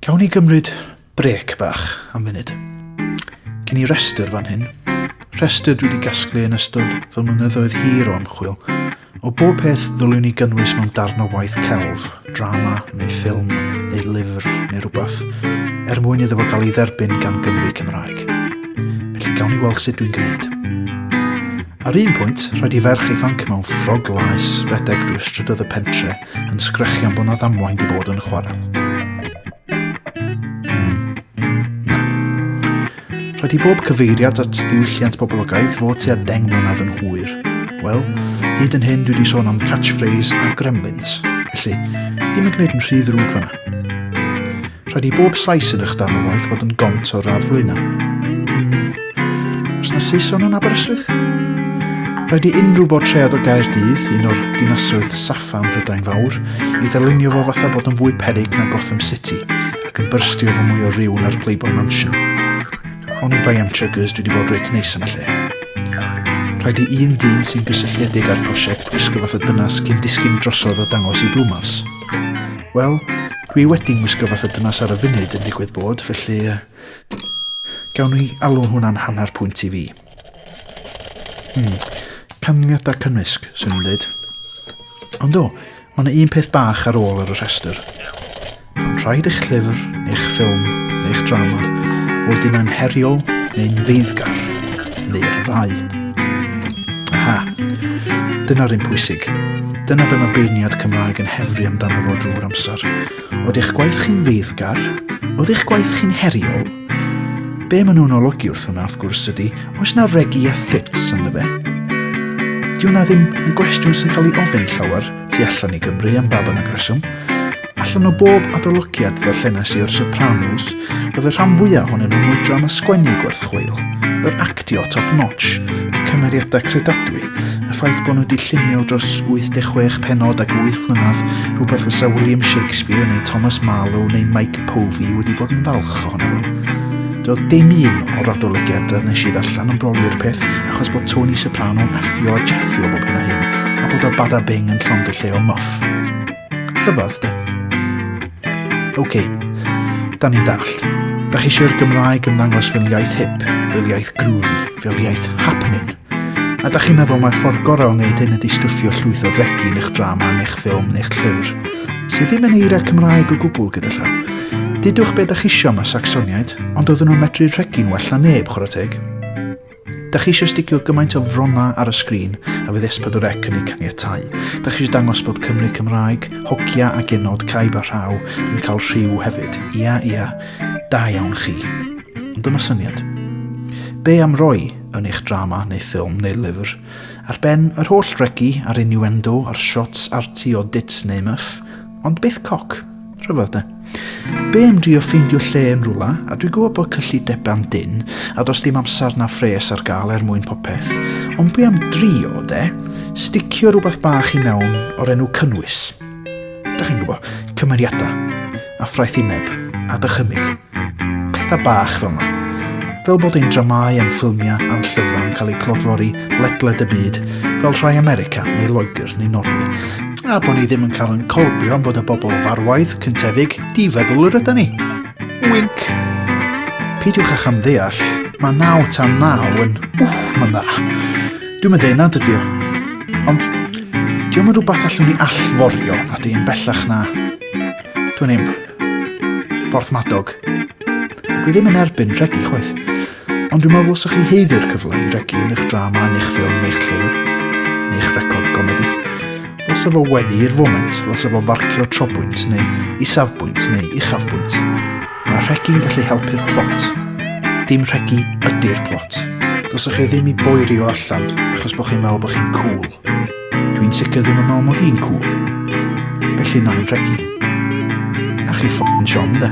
Cawn ni gymryd brec bach am funud. Cyn i restr fan hyn, restr dwi wedi gasglu yn ystod fy mlynyddoedd hir o ymchwil, o bob peth ddylwn ni gynnwys mewn darn o waith celf, drama neu ffilm neu lyfr neu rhywbeth, er mwyn iddo fo gael ei dderbyn gan Gymru Cymraeg. Felly gawn ni weld sut dwi'n gwneud. Ar un pwynt, rhaid i ferch ifanc mewn ffrog laes redeg drwy strydoedd y pentre yn sgrechian bod na ddamwain di bod yn chwarae. Mm. Na. Rhaid i bob cyfeiriad at ddiwylliant boblogaidd fod tua deng mlynedd yn hwyr. Wel, hyd yn hyn dwi wedi sôn am catchphrase a gremlins, felly ddim yn gwneud yn rhy ddrwg fanna. Rhaid i bob sais yn eich dan o waith fod yn gont o'r radd flaenau. Os na Saeson yn Aberystwyth? Rhaid i unrhyw bortread o Gaerdydd, un o'r dinasoedd saffa ym Mhrydain Fawr, i ddylunio fo fatha bod yn fwy perig na Gotham City ac yn byrstio fo mwy o ryw na'r Playboy Mansion. Ond i bai am Chuggers, dwi wedi bod reit neis yn y lle. Rhaid i un dyn sy'n gysylltiedig â'r prosiect gwisgo fath o dynas cyn disgyn drosodd o dangos i Blwmars. Wel, dwi wedi gwisgo fath o dynas ar y funud yn digwydd bod, felly Gawn ni alw hwnna'n hanner pwynt i fi. Hmm. Canlyniadau cymysg, swn i'n dweud. Ond o, mae yna un peth bach ar ôl ar y rhestr. Mae'n rhaid eich llyfr, eich ffilm, neu'ch drama, fod yn anheriol neu'n ddeiddgar, neu'r ddau. Aha, dyna'r un pwysig. Dyna be mae beirniad Cymraeg yn hefru amdano fo drwy'r amser. Od eich gwaith chi'n feiddgar? Od eich gwaith chi'n heriol? Be maen nhw'n olygu wrth hwnna, wrth gwrs, ydy, oes na regi a thits ynddo fe? Di hwnna ddim yn gwestiwn sy'n cael ei ofyn llawer tu allan i Gymru am ba bynnag reswm. Allan o bob adolygiad ddarllenes i o'r Sopranos, Roedd y rhan fwyaf ohonyn nhw'n mwydram a sgwennu gwerth chweil, yr actio top notch, y cymeriadau credadwy, y ffaith bod nhw wedi llunio dros 86 pennod ac wyth mlynedd, rhywbeth fysa William Shakespeare neu Thomas Marlowe neu Mike Povey wedi bod yn falch ohono fo. Doedd dim un o'r adolygiadau nes i ddarllen yn broli'r peth achos bod Tony Soprano'n effio a jeffio bob hyn a hyn a bod o bada bing yn llongylleo muff. Rhyfedd, di. OK, da ni'n dall. Da chi eisiau'r Gymraeg yn ddangos fel iaith hip, fel iaith groovy, fel iaith happening. A da chi'n meddwl mae'r ffordd gorau o wneud hyn ydy stwffio llwyth o regi yn eich drama, yn eich ffilm, yn eich llyfr, sydd ddim yn eira Cymraeg o gwbl gyda llaw. Didwch beth da chi eisiau mae Saxoniaid, ond oedden nhw'n medru rhegi'n well na neb, chwarae teg. Da chi eisiau sticio gymaint o frona ar y sgrin a fydd S4C yn ei caniatau? Da chi eisiau dangos bod Cymru Cymraeg, hogia a genod, caib a rhaw yn cael rhyw hefyd? Ia, ia, da iawn chi. Ond dyma syniad. Be am roi yn eich drama neu ffilm neu lyfr, ar ben yr holl regi a'r innuendo a'r shots arti o dits neu myff, ond byth coc? Rhyfedd de. Be am drio ffeindio lle yn rhywle, a dwi'n gwybod bod cyllidebau'n dyn, a dos dim amser na phres ar gael er mwyn popeth, ond be am drio de, sticio rhywbeth bach i mewn o'r enw cynnwys. Da chi'n gwybod, cymeriadau, a ffraethineb, a dychymyg. Pethau bach fel yma. Fel bod ein dramâu a'n ffilmiau a'n llyfrau yn cael eu clodfori ledled y byd, fel rhai America neu Loegr neu Norwy. A bod ni ddim yn cael yn colbio am fod y bobl farwaidd, cyntefig, difeddwl yr yda ni. Wink! Peidiwch â cham ddeall, mae naw tan naw yn, wff, mae'n dda. Dwi'n mynd nad ydy o. Ond, diolch yn rhywbeth allwn ni allforio, na di'n bellach na. Dwi'n im. Porthmadog. Dwi ddim yn erbyn regu chwaith. Ond dwi'n meddwl sa'ch chi heiddi'r cyfle i regu yn eich drama, yn eich ffilm, yn eich llyfr, yn eich record gomedi. Ddylse fo weddi i'r foment, ddylse fo farcio trobwynt neu isafbwynt neu uchafbwynt. Mae rhegi'n gallu helpu'r plot. Dim rhegi ydy'r plot. Ddylse chi ddim i boerio allan achos bod chi'n meddwl bod chi'n cool. Dwi'n sicr ddim yn meddwl mod i'n cool. Felly na i'n rhegi. A chi ffocin siom, de.